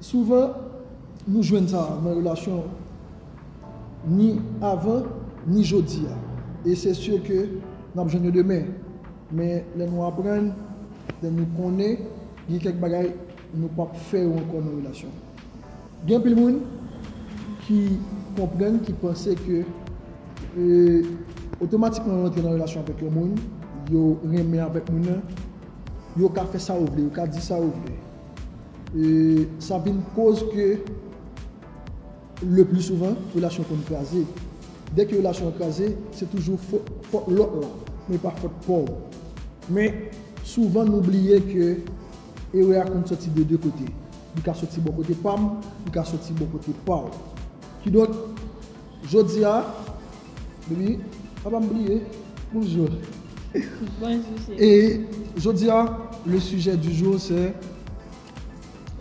Souvan, nou jwenn sa nan relasyon ni avan ni jodi a, e se sur ke n ap jwenn yo demen. Men lè nou aprann, lè nou konnen gen kèk bagay Nou pap fè yo ankò nan relasyon. Gen anpil moun ki konprann, ki panse ke otomatikman yo antre nan relasyon avèk yon moun, yo renmen avèk moun nan, yo ka fè sa yo vle, yo ka di sa yo vle. Sa vin koz ke le pli souvan relasyon konn kraze. Dè ke relasyon an kraze, se toujou fot lòt la, men pa fot pa w. Men souvan nou bliye ke Erè a konn sòti de 2 kote. Li ka sòti bò kote pa m, li ka sòti bò kote pa w. Kidonk, jodi a, Baby, pa ba m bliye. Bonjour. Bonjour chéri. E jodi a, le sujet du jour c'est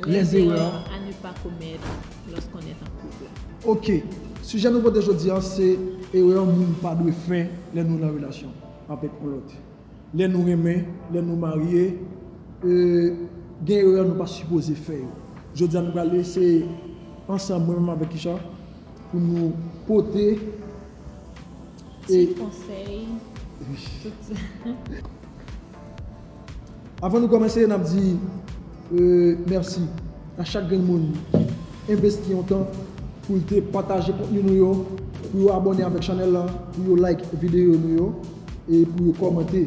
les erreurs à ne pas commettre lorsqu'on est en couple. Ok. Sujet nou pote jodi a se erè moun pa dwe fè lè nou nan relasyon avèk yon lòt. Lè nou renmen, lè nou marye, gen erè nou pa sipoze fè yo. Jodi a nou pral eseye ansanm mwen menm avèk Kisha pou nou pote ti konsèy tout sa. Avan nou kòmanse nap di. Merci a chak grenn moun ki envesti yon tan pou l te pataje kontni nou yo, pou yo abòne avèk chanèl la, pou yo like videyo nou yo e pou yo kòmante.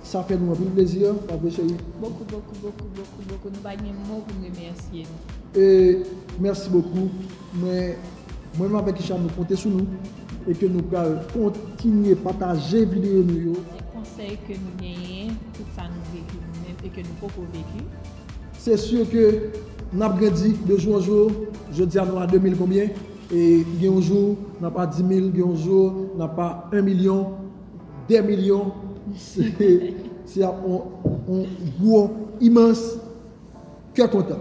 Sa fè nou anpil plezi, pa vre cheri? Bokou bokou bokou bokou bokou nou pa gen mo pou n remèsye nou. E mèsi bokou mwen menm avèk Isham nou konte sou nou. E ke nou pral kontinye pataje videyo nou yo. Kèk konsèy ke nou genyen tout sa nou veki nou menm e ke nou poko veki. Se sur ke nap grandi de jou an jou, jodia nou a 2000 konbyen e gen yon jou nap a 10000, gen yon jou nap a 1 milyon, 2 milyon se ap yon gwo imans kè kontan.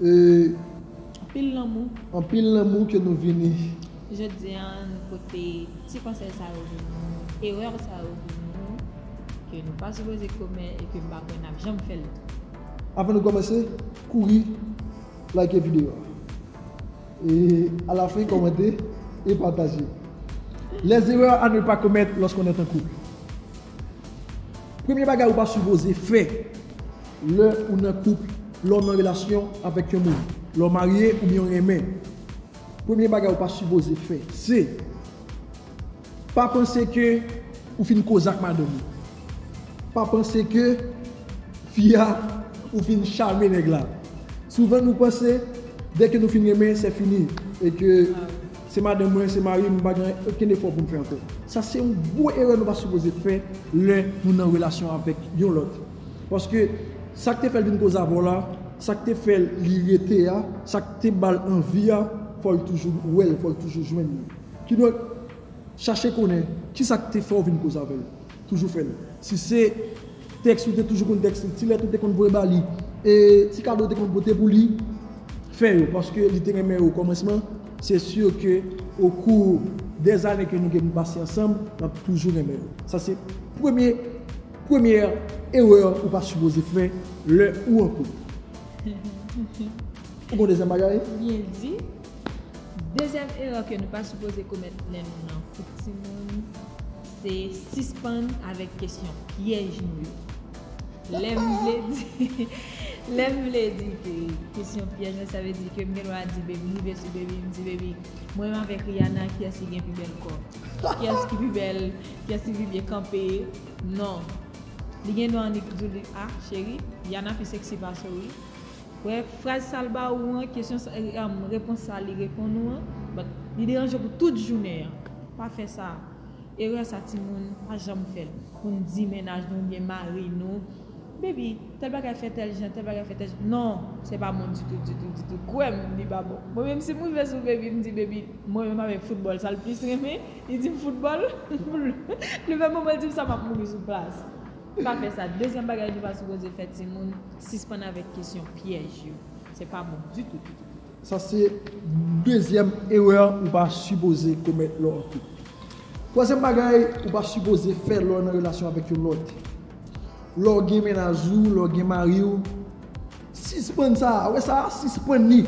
E. Anpil lanmou. Anpil lanmou ke nou vini. Jodi a nou pote ti konsèy sa yo pou nou, erè sa yo pou nou, ke nou pa sipoze komè e ke m pa kwè n ap janm fè l tou. Avan nou kòmanse, kouri like videyo a. E alafen kòmante e pataje. Les erreurs à ne pas commettre lorsqu'on est en couple. Premye bagay ou pa sipoze fè. Lè ou nan koup, lè w nan relasyon avèk yon moun, lè w marye oubyen w renmen, premye bagay ou pa sipoze fè se, Pa panse ke ou fin koze ak madanm ou. Pa panse ke fi a ou fin chame nèg la. Souvan nou panse dè ke nou fin renmen sè fini e ke se madanm mwen, se mari m, m pa gen okenn efò pou m fè ankò. Sa se yon gwo erè nou pa sipoze fè lè nou nan relasyon avèk yon lòt. Paske sak te fèl vin kozavò la, sak te fèl li rete a, sak te bal anvi a, fòl toujou wèl, fòl toujou jwenn li. Kidonk, chache konnen kisak te fèw vin kozavèl. Toujou fèl. Si se tèks ou te toujou konn tèks li, ti lèt ou te konn voye ba li, e ti kado ou te konn pote pou li, fè yo. Paske li te renmen ou okòmansman, se si ke okou dèzane ke nou gen pou pase ansanm, lap toujou renmen ou. Sa se premye. Premyè erè ou pa sipoze fè lè ou an koup. Ou konn dezyèm bagay? Byen di. Dezyèm erè ke nou pa sipoze komèt lè nou nan koup timoun, se sispann avèk kesyon pyèj nou yo. Lè m vle di, lè m vle di ke kesyon pyèj mwen sa vle di ke m gen dwa di Baby, rive sou Baby m di Baby, mwen menm avèk Rihanna kiyès ki gen pi bèl kò? Kiyès ki pi bèl? Pierre Thivivier kanpe non Li gen dwa annik diw li ah cheri Yana pi sexy pase w wi Wè fraz sal ba ou an kesyon sa repons sa li reponn ou an but li deranje pou tout jounen an Pa fè sa Erè sa timoun pa janm fèl poun di mennaj nou oubyen mari nou Baby tèl bagay fè tèl jan tèl bagay fè tèl jan non se pa bon ditou ditou ditou kwèm li pa bon Mwen menm si m rive sou baby m di baby mwen menm avèk foutbòl sal plis renmen Li dim football Li fè moman l dim sa map mouri sou plas Pa fè sa Dezyèm bagay nou pa sipoze fè timoun Sispann avèk kesyon pyèj yo Se pa bon ditou ditou ditou. Sa se dezyèm erè ou pa sipoze komèt lè w an koup Twazyèm bagay ou pa sipoze fè lè w nan relasyon avèk yon lòt Lè w gen mennaj ou lè w gen mari w Sispann sa a, wè sa a, sispann li.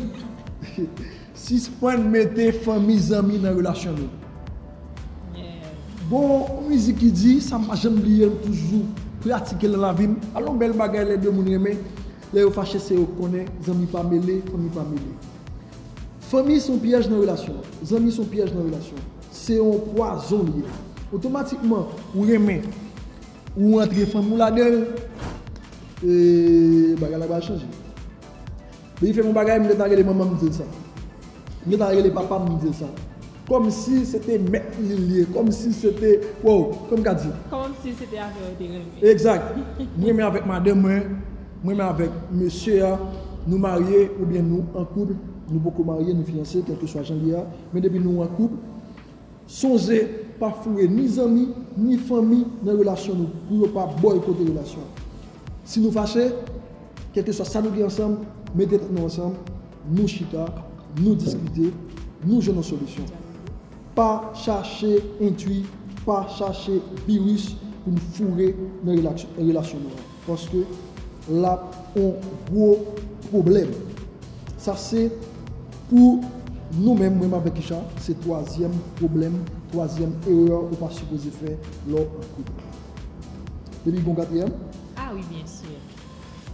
Sispann mete fanmi, zanmi nan relasyon nou. Gon yon mizik ki di, sa m pa janm bliye, m toujou pratike l nan lavi m, al yon bèl bagay lè de moun renmen, lè yo fache se yo k konnen, zanmi pa mele, fanmi pa mele. Fanmi s on pyèj nan relasyon, zanmi s on pyèj nan relasyon. Se yon pwazon li ye. Otomatikman, ou renmen. Ou antre fanm ou lagel e bagay la pral chanje. Depi fèm yon bagay m gentan rele manman m dil sa. M gentan rele papa m dil sa. Komsi se te mèt li li ye. Komsi se te wow kòm ka di. Komsi se te avèw te renmen. Egzat. M renmen avèk madanm mwen, m renmen avèk mesye a, nou marye oubyen nou an koup, nou poko marye nou fiyanse kèlkeswa jan li ye a, men depi nou an koup, Sonje, pa foure ni zanmi, ni fanmi nan relasyon nou pou yo pa bòykote relasyon an. Si nou fache, kèlkeswa sa nou gen ansanm, mete tèt nou ansanm, nou chita, nou diskite, nou jwenn yon solisyon. Pa chache entwi, pa chache viris pou n foure nan relasyon nou an. Paske lap on gwo pwoblèm. Sa se pou nou menm mwen avèk Richard se twazyèm pwoblèm, twazyèm erè ou pa sipoze fè lè w an koup. Depi gen yon katriyèm? Ah wi byen sur.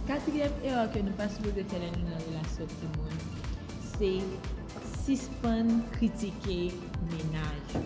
Katriyèm erè ke nou pa sipoze fè lè nou nan relasyon timoun se sispann kritike mennaj ou.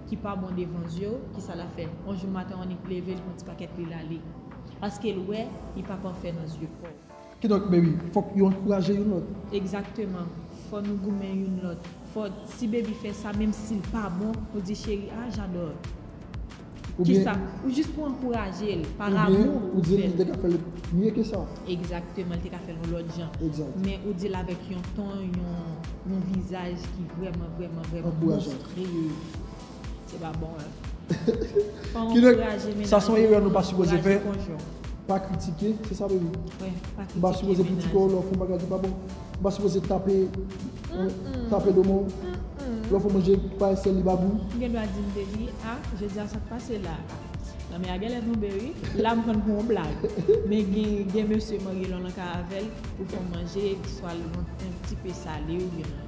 ki pa bon devan zye w, kisa l ap fè? On jou maten w annik leve li pran ti pakèt li l ale. Paske l wè li pa pafè nan zye kò w. Kidonk meri, fòk yo ankouraje youn lòt. Egzakteman. Fò nou goumen youn lòt. Fò si bebi fè sa menm si l pa bon, ou di cheri ah j'adore. Kisa? Ou jis pou ankouraje l. Par amou ou fè l. Oubyen ou di l li te ka fè l mye ke sa. Egzakteman, li te ka fè l yon lòt jan. Egzat. Men ou di l avèk yon ton, yon vizaj ki vrèman vrèman vrèman. Ankourajan. Eyy se pa bon rèv. Fò ou ankouraje menaj ou. Sa son erè nou pa sipoze fè. Pa kritike, se sa baby? Wi, pa kritike menaj ou. Ou pa sipoze kritike w lè w fè yon bagay ki pa bon. Ou pa sipoze tape tape do moun. Lè w fè manje pa esèl li pa gou. Ou gen dwa di m baby a jodi a sa k pase la a. Lanmè a genlè tonbe wi. La m pran l pou yon blag. Men gen mesye marye lè w nan kay avè l pou fè w manje swa l yon tipe sale oubyen.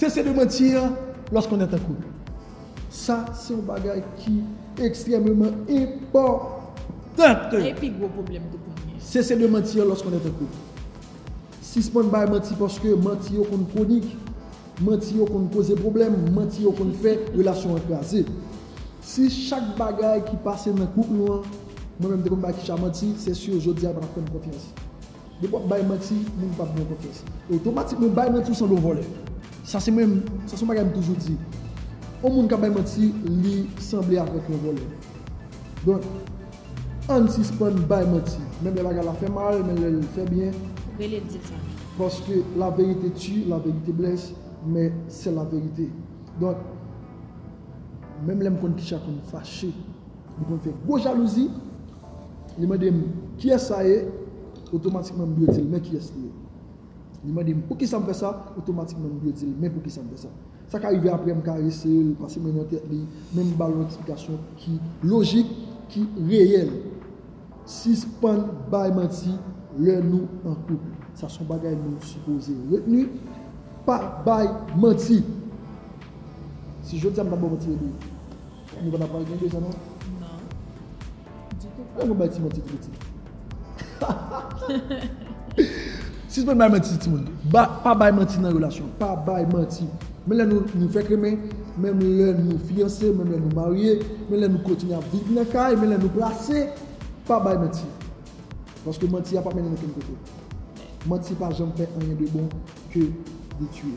Sese de manti an los qu'on est en couple. Sa se yon bagay ki ekstrememan enpòtan. Sa e pi gwo pwoblèm tout moun gen. Sese de manti an los qu'on est en couple. Sispann bay manti paske manti yo konn konik, manti yo konn koze pwoblèm, manti yo konn fè relasyon an kraze. Si chak bagay ki pase nan koup nou an, mwen menm te konn bay Kisha manti, sè sur jodi a li pa tap fè m konfyans. Depi wap bay manti moun pap gen konfyans. Otomatikman ou bay manti ou sanble yon vòlè. Sa se mwen, sa se yon bagay m toujou di. Yon moun kap bay manti li sanble avèk yon vòlè. Donk ann sispann bay manti. Menm lè bagay la fè mal, menm lèl fè byen. Rele l di l sa. Paske la verite tue, la verite blesse, men sè la verite. Donk menm lè m konn kicha pou m fache. Li konn fè gwo jalouzi, li mande m kiyès sa ye, otomatikman m dwe di l men kiyès li ye. Li mande m poukisa m fè sa, otomatikman m dwe di l men poukisa m fè sa. Sa ka rive apre m karese l, pase men nan tèt li, men m ba l yon eksplikasyon ki lojik, ki reyèl. Sispann bay manti lè nou an koup. Sa son bagay nou sipoze retni, pa bay manti. Si jodi a m pa ba w manti Edwin. Ou konn ap pale de Deza non? Non. Ditou pa. Ou konn bay ti manti pou pitit. Sispann bay manti timoun. Pa bay manti nan relasyon. Pa bay manti. Menm lè nou fèk renmen, menm lè nou fiyanse, menm lè nou marye, menm lè nou kontinye ap viv nan kay, menm lè nou plase, pa bay manti. Paske manti a pap mennen okenn kote. Manti pa janm fè anyen de bon ke detui.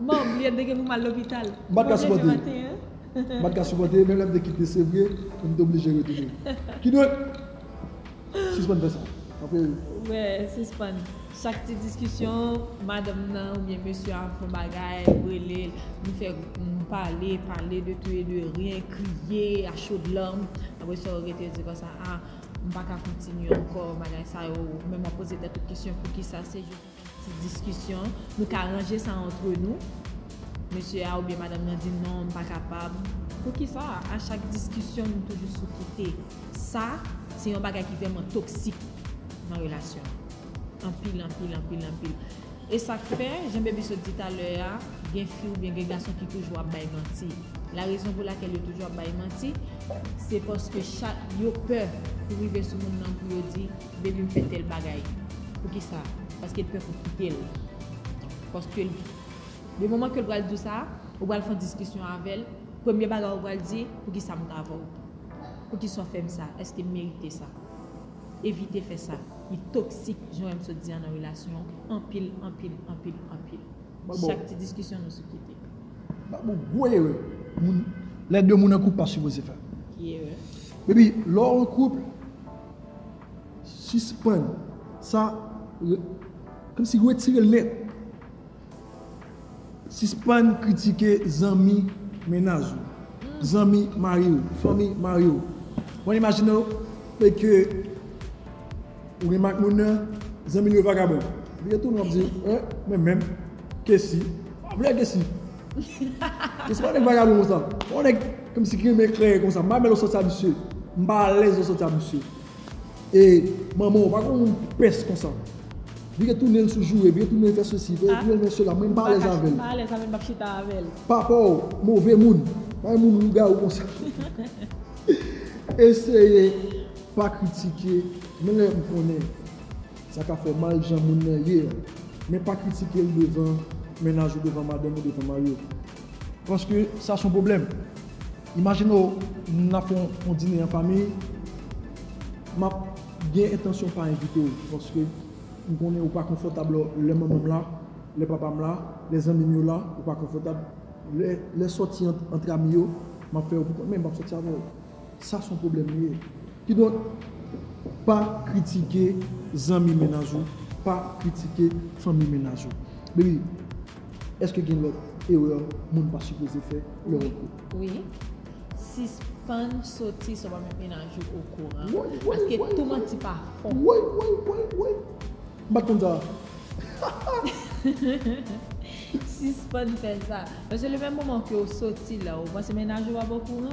Mom li ap bege pou mal lopital. M pat ka sipòte. M pat ka sipòte menm lè m te kite se vre men m te oblije retounen. Kidonk sispann fè sa. Paske. Wè sispann. Chak ti diskisyon madanm nan oubyen mesye an ap fon bagay, m rele l, nou fè nou pale, pale de tou e de, ren, kriye a chod larm. Apre sa ou rete di konsa a m pa ka kontinye ankò bagay sa yo. Menm w ap poze tèt ou kesyon poukisa se. Ti diskisyon, nou ka ranje sa antre nou. Mesye a oubyen madanm nan di non m pa kapab. Poukisa a chak diskisyon nou toujou sou kite? Sa se yon bagay ki vrèman toksik nan relasyon. Anpil, anpil, anpil, anpil. E sa k fè, jan Baby sot di talè a, gen fi oubyen gen gason ki toujou ap bay manti. Larezon pou lakèl yo toujou ap bay manti, se paske chak yo pè pou rive sou moun nan pou yo di. Baby m fè tèl bagay. Poukisa? Paske l pè pou w kite l. Paske l Le moman ke l pral di w sa, ou pral fè yon diskisyon avè l, premye bagay ou pral di, poukisa m ta avè w? Poukisa w fè m sa? Eske m merite sa? Evite fè sa. Li toksik jan m sot di an nan relasyon an anpil, anpil, anpil, anpil. Chak ti diskisyon nou sou kite. Baboo gwo erè moun lè 2 moun an koup pa sipoze fè. Ki erè? Baby lè w an koup, Sispann sa Kòmsi retire l nèt Sispann kritike zanmi mennaj ou Zanmi mari ou Fanmi mari ou Mwen imajine w e ke Ou renmen ak moun nan Zanmi l yo vagabon Li retounen w ap di eh Mwen menm Kessy Mwen pa vle Kessy Kessy pa yon nèg vagabon konsa Yon nèg Msi ki renmen kreye konsa. M pa renmen lè w sòti a misye. M pa alèz lè w sòti a misye. E manman w pa konn moun pès konsa. Li gen tounen l sou joure, li gen tounen l fè sesi, li gen tounen l fè sela. Mwen m pa alèz avè l. M pa alèz avè l m pa p chita avè l. Papa w move moun. Pa gen moun lougawou konsa. Eseye pa kritike menm lè m konnen sa ka fè mal jan moun nan ye a. Men pa kritike l devan mennaj ou, devan madanm ou, devan mari w. Paske sa son pwoblèm. Imajine w n ap fè yon dine an fanmi, m ap gen entansyon pa envite w paske m konnen ou pa konfòtab lò lè manman m la, lè papa m la, lè zanmi m yo la, ou pa konfòtab. Lè sòti ant ami yo, m ap fè yo pou kont men m p ap sòti avè w. Sa son pwoblèm li ye. Kidonk, pa kritike zanmi mennaj ou, pa kritike fanmi mennaj ou. Baby, èske gen lòt erè moun pa sipoze fè lè yo an koup? Wi. Sispann soti san w pa met mennaj ou okouran. Woy, woy, woy, woy! Paske tou manti pa fon. Woy, woy, woy, woy! M pa t konn sa a. Sispann fè sa. Paske le menm moman ke w soti la, ou panse mennaj ou ap okouran?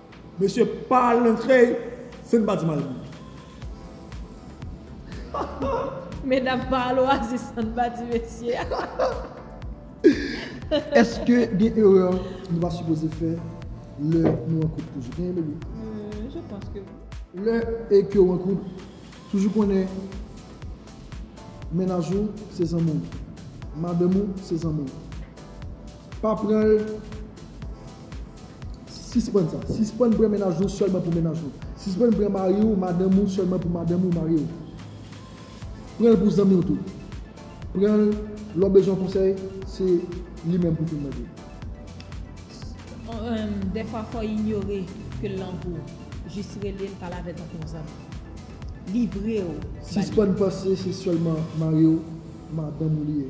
Mesye pa al nan krèy san n pa di mal pou li. Medam pa al oasis san n pa di mesi. Eske gen erè nou pa sipoze fè lè nou an koup toujou? Genyen bebe? Je panse ke wi. Lè e ke w an koup, toujou konnen mennaj ou se zanmi w, madanm ou se zanmi w. Pa pran l Sispann sa. Sispann pran mennaj ou sèlman pou mennaj ou. Sispann pran mari ou, madanm ou sèlman pou madanm ou, mari ou. Pran l pou zanmi w tou. Pran l lè w bezwen konsèy, se li menm pou w vin mande. Dèfwa fò w inyore ke l lan gou. Jis rele l, pale avè l tankou yon zanmi. Livre w ba li. Sispann panse se sèlman mari w, madanm ou li ye.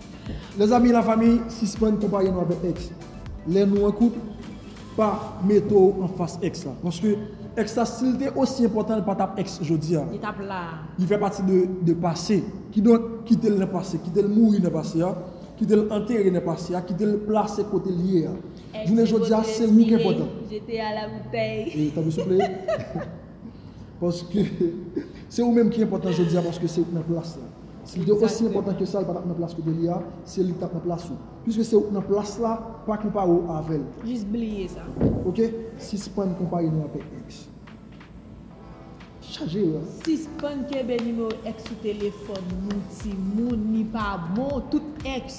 Les amis la famille sispann konpare nou avèk ex lè nou an koup pa mete w anfas ex la paske ex la sil te osi enpòtan li patap ex jodia li fè pati de pase kidonk kitel nan pase kitel mouri nan pase a kitel antere nan pase a kitel plase kotel ye a jounen jodia se ou ki enpòtan. Paske se ou menm ki enpòtan jodi a paske se ou ki nan plas la. Si li te osi enpòtan ke sa li pa tap nan plas kote li a, se li ki tap nan plas ou. Piske se ou ki nan plas la, pa konpare ou avèl. Jis bliye sa. Ok, sispann konpare nou avèk ex. Chaje yo. Sispann kenbe nimewo ex sou telefòn nou timoun li pa bon tout ex.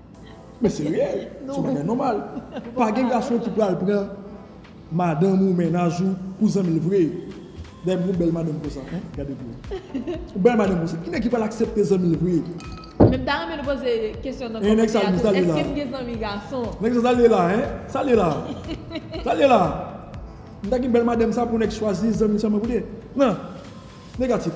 Men se reyèl, son bagay nòmal. Pa gen gason ki pral pran madanm ou, mennaj ou pou zanmi l vre. Dayè m gen yon bèl madanm konsa, hein, gade pou wè. Yon bèl madanm konsa, ki nèg ki pral aksepte zanmi l vre? Men m ta renmen nou poze kesyon nan kòmantè a tou, èske m gen zanmi gason? Nèg sa, sa l ye la, hein? Sa l ye la? Sa l ye la? M ta gen bèl madanm sa pou nèg chwazi zanmi l sèlman pou l ye? Nan! Negatif.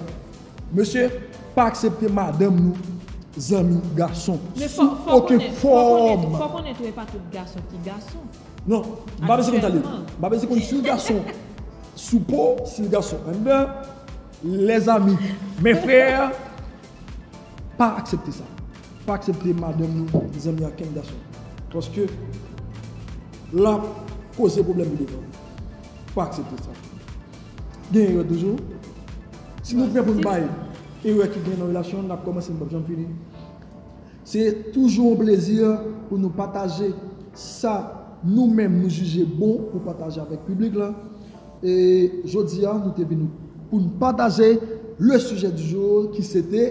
Mesye pa aksepte madanm nou zanmi gason sou oken fòm. Men fò konnen tou epa tout gason ki gason. Non, m pa bezwen konn sa l ye. M pa bezwen konn si l gason sou po, si l gason anndan, les amis, mes frères pa aksepte sa. Pa aksepte madanm nou zanmi ankenn gason. Paske lap koze pwoblèm pi devan. Pa aksepte sa. Gen erè toujou. Si nou pè pou n bay erè ki gen nan relasyon n ap kòmanse n pap janm fini. Se toujou yon plezi pou nou pataje sa nou menm nou jije bon pou pataje avèk piblik la e jodi a nou te vini pou n pataje le sujet du jour ki se te.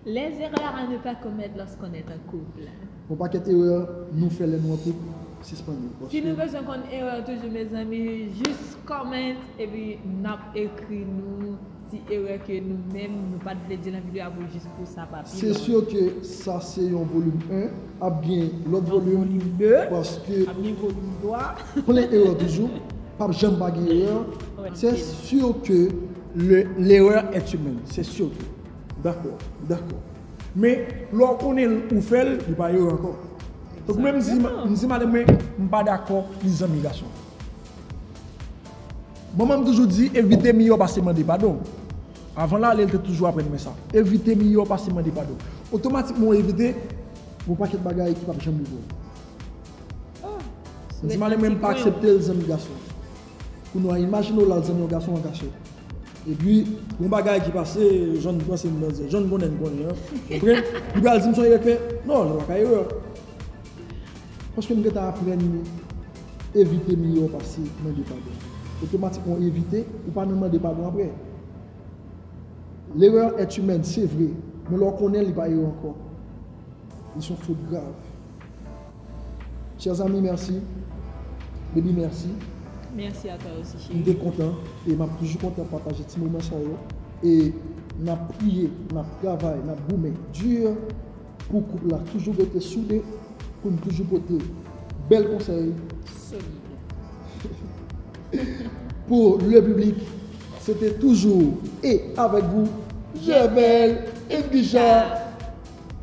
Les erreurs à ne pas commettre lorsqu'on est en couple. Gon pakèt erè nou fè lè nou an koup sispann yo paske. Si nou bezwen konn erè toujou mezanmi jis comment epi nap ekri nou ti erè ke nou menm nou pat vle di nan video a pou jis pou sa pa pi long. Se sûr ke sa se yon volume 1, ap gen lòt volume paske plen erè toujou, pap janm pa gen erè, c'est sûr que l'erreur est humaine, c'est sûr que. Dakò, dakò. Men, lè w konnen l ou fè l, li pa erè ankò. Donk mwen m di madanm mwen m pa dakò li zanmi gason. Manman m toujou di evite miyò pase mande padon. Avan l ale l te toujou aprann mwen sa. Evite miyò pase mande padon. Otomatikman w evite, gen yon pakèt bagay ki pap janm rive w. Mwen di madanm mwen m pa aksepte l zanmi gason. Kou nou a imajine w lal zanmi yon gason an kachèt. Epi yon bagay ki pase jan n panse n nan zè, jan n konnen n konnen an. Oke? Li pral di m son erè k fè. Non, li pa ka erè. Paske m gentan aprann li evite miyò pase mande padon. Otomatikman w evite, ou pa nan mande padon aprè. Lerè an èt imèn, se vre. Men lè w konnen li pa erè ankò. Li son fot grav. Chè zanmi merci. Baby merci. Merci a toi aussi chérie. M te kontan e map toujou kontan pataje ti moman sa yo e nap priye, nap travay, nap goumen dur pou koup la toujou rete soude pou n toujou pote bèl konsèy solide pou le public se te toujou e avèk vou Jèvèl Indija.